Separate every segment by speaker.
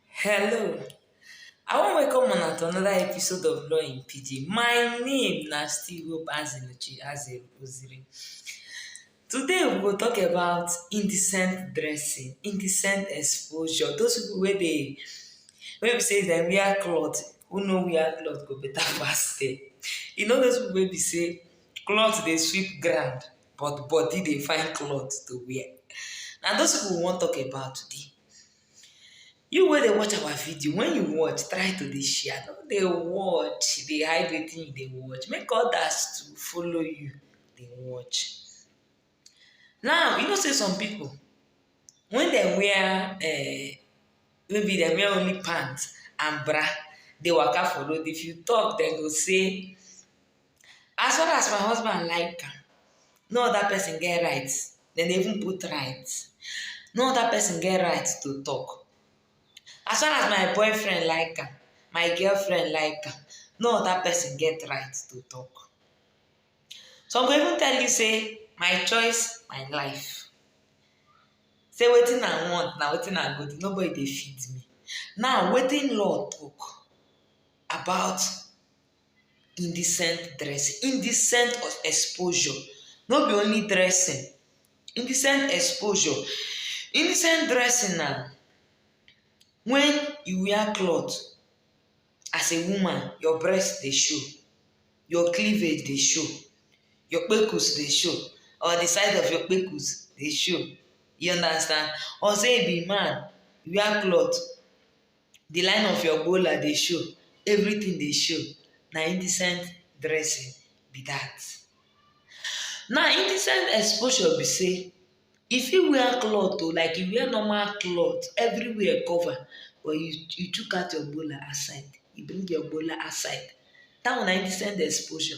Speaker 1: Hello, I wan welcome una to another episode of Law in Pidgin. My name na still Hope Azinuchi Azeroziri. Today we go talk about indecent dressing, indecent exposure. Those people wey dey wey be say dem wear cloth, who no wear cloth go better pass them. You know those people wey be say cloth dey sweep ground, but body dey find cloth to wear. Na those people we wan talk about today. You wey dey watch our video, when you watch, try to dey share. No dey watch dey hide wetin you dey watch. Make others too follow you dey watch. Now, you know sey some people, when dem wear um maybe dem wear only pant and bra dey waka for road, if you talk, dem go say As far as my husband like am, no other person get right, dem dey even put right, no other person get right to talk. As far as my boyfriend like am, my girlfriend like am, no other person get right to talk. Some go even tell you say my choice, my life. Say wetin I want na wetin I go do, nobody dey fit me. Now wetin law talk about indecent dressing. Indecent exposure no be only dressing. Indecent exposure. Indecent dressing na wen you wear cloth as a woman, your breast dey show, your cleavage dey show, your kpekus dey show or di side of your kpekus dey show. You understand? Or sey you be man, you wear cloth The line of your gbola dey show, everything dey show, na indecent dressing be that. Now indecent exposure be say, you fit wear cloth o, like you wear normal cloth, everywhere cover, but you you chook out your gbola outside, you bring your gbola outside, that one na indecent exposure.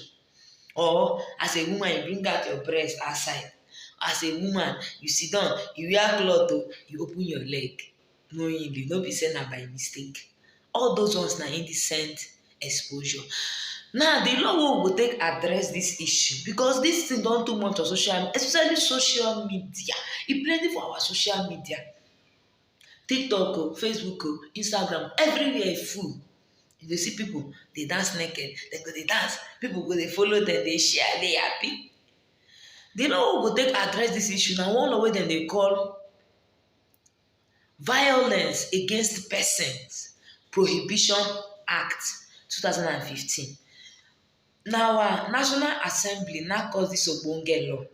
Speaker 1: Or as a woman you bring out your breast outside, as a woman you sidan, you wear cloth o, you open your leg. knowingly no be say na by mistake all those ones na indecent exposure now the law wey we go take address this issue because this thing don too much for social media especially social media e plenty for our social media tiktok o facebook o instagram everywhere e full you go see people dey dance naked dem go dey dance people go dey follow dem dey share dey happy the law wey we go take address this issue na one law wey dem dey call Violence Against Persons Prohibition Act, 2015. Na our National Assembly na cause dis ogbonge law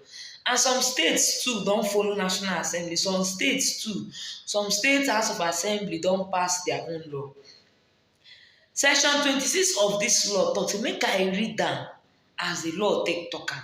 Speaker 1: and some states too don follow National Assembly, some states too, some states house of assembly don pass their own law. Section twenty-six of dis law talk sey make I read am as de law take talk am.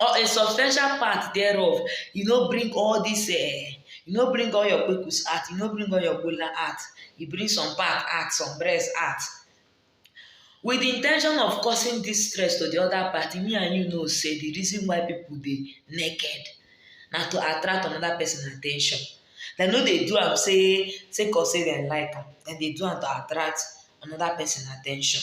Speaker 1: or a substantial part thereof, you no bring all this, uh, you no bring all your kpekus out, you no bring all your gola out, you bring some part out, some breast out. With the intention of causing this stress to the other party, me and you know say the reason why people dey naked na to attract another person attention. Dem no dey do am say say cause say dem like am, dem dey do am to attract another person attention.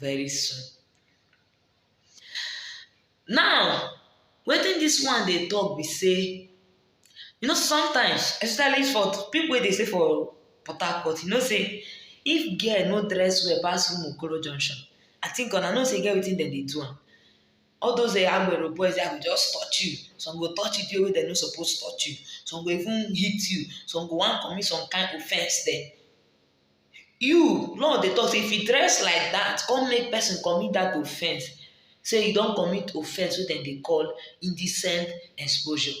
Speaker 1: very soon now wetin this one dey talk be say you know sometimes especially for people wey dey stay for port harcourt you know say if girl no dress well pass umu okoro junction i think una know say e get wetin dem dey do am all those eh agbero boys dem go just touch you some go touch you the way wey dem no suppose touch you some go even hit you some go wan commit some kind offence dem You law dey talk say if you dress like that come make person commit that offense say you don commit offense wey dem dey call indecent exposure.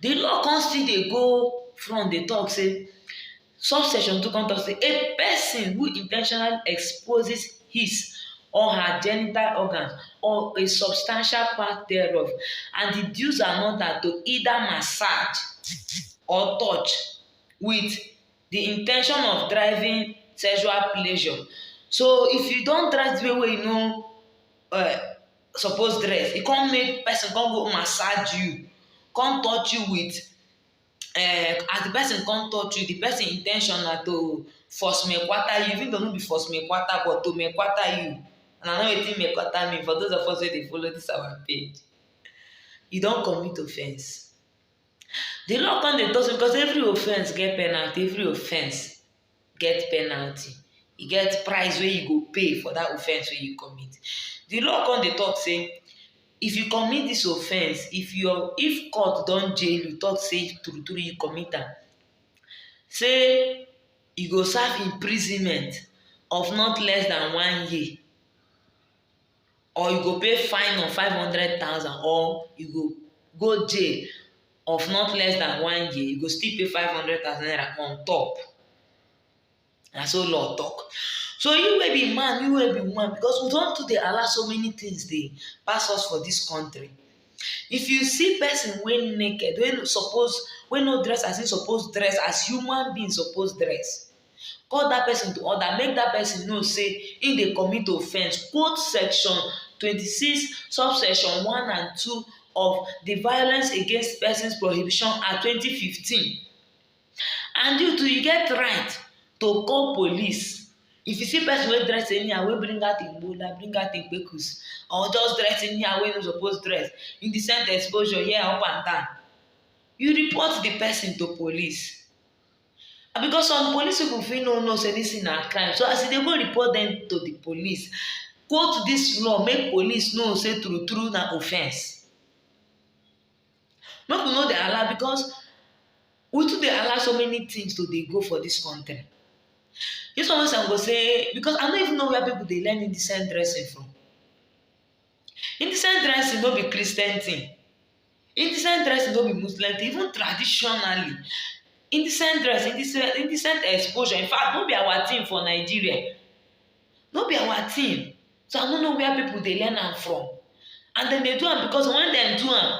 Speaker 1: the law come still dey go front dey talk say subsection two come talk say a person who in ten tionally exposes his or her genital organs or a substantial part thereof and induce another to either massage or touch with the in ten tion of driving sexual pleasure. So if you don dress the way wey you no uh, suppose dress, e come make person come go massage you, come touch you with uh, as the person come touch you, the person in ten tion na to force me kwata you, even though no be force me kwata, but to me kwata you. And I know wetin me kwata mean for those of us wey dey follow this our page. You don commit offence. The law come dey talk say because every offense get penalty, every offense get penalty. E get price wey you go pay for that offense wey you commit. The law come dey talk say, if you commit this offense, if your if court don jail you talk say true true you commit am, say you go serve imprisonment of not less than one year. or you go pay fine of five hundred thousand or you go go jail of not less than one year you go still pay five hundred thousand naira on top na so law talk so you wey be man you wey be woman because we don too dey allow so many things dey pass us for this country if you see person wey naked wey suppose wey no dress as he suppose dress as human being suppose dress call dat pesin to order make dat pesin know sey im dey commit offence quote section twenty six subsection one and two of di violence against persons prohibition act twenty fifteen and you too you get right to call police if you see person wey dress anyhow wey bring out im gbola bring out im kpekus or just dress anyhow wey no suppose dress in the same exposure here up and down you report the person to police And because some police people fit no know say this thing na crime so as you dey go report them to the police quote this law make police know say true true na offence make we no dey allow because we too dey allow so many things to dey go for this country this one wey some go say because i no even know where people dey learn indecent dressing from Indecent dressing no be Christian thing. Indecent dressing no be Muslim thing. Even traditionally, indecent dress, indecent, indecent exposure. In fact, no be our thing for Nigeria. No be our thing. So I no know where people dey learn am from. And dem dey do am because when dem do am,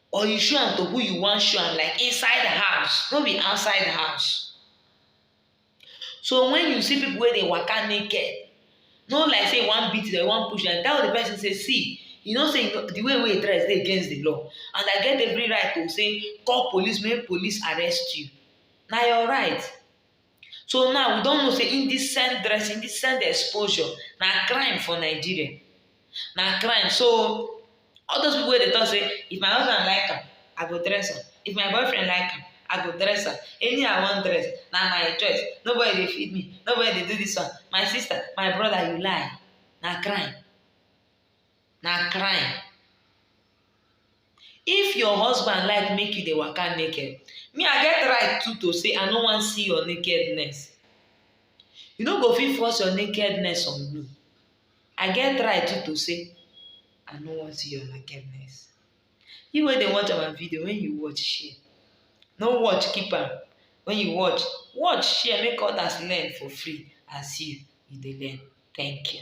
Speaker 1: Or you show am to who you wan show am like inside house, no be outside house. So when you see people wey dey waka naked, no like say you wan beat them, you wan push them, tell the person say see, you know say the way wey you dress dey against the law and I get every right to say call police make police arrest you. Na your right. So now we don know say indecent dress, indecent exposure na crime for Nigeria. Na crime. So all those people wey dey talk say if my husband like am, I go dress am. If my boyfriend like am, I go dress am. Any I wan dress, na my choice. Nobody dey feed me. Nobody dey do this one. My sister, my brother, you lie. Na crime. na crime if your husband like make you dey waka naked me i get right too to say i no wan see your nakedness you no go fit force your nakedness on me i get right too to say i no wan see your nakedness you wey dey watch our video when you watch share no watch keep am when you watch watch share make others learn for free as you you dey learn thank you.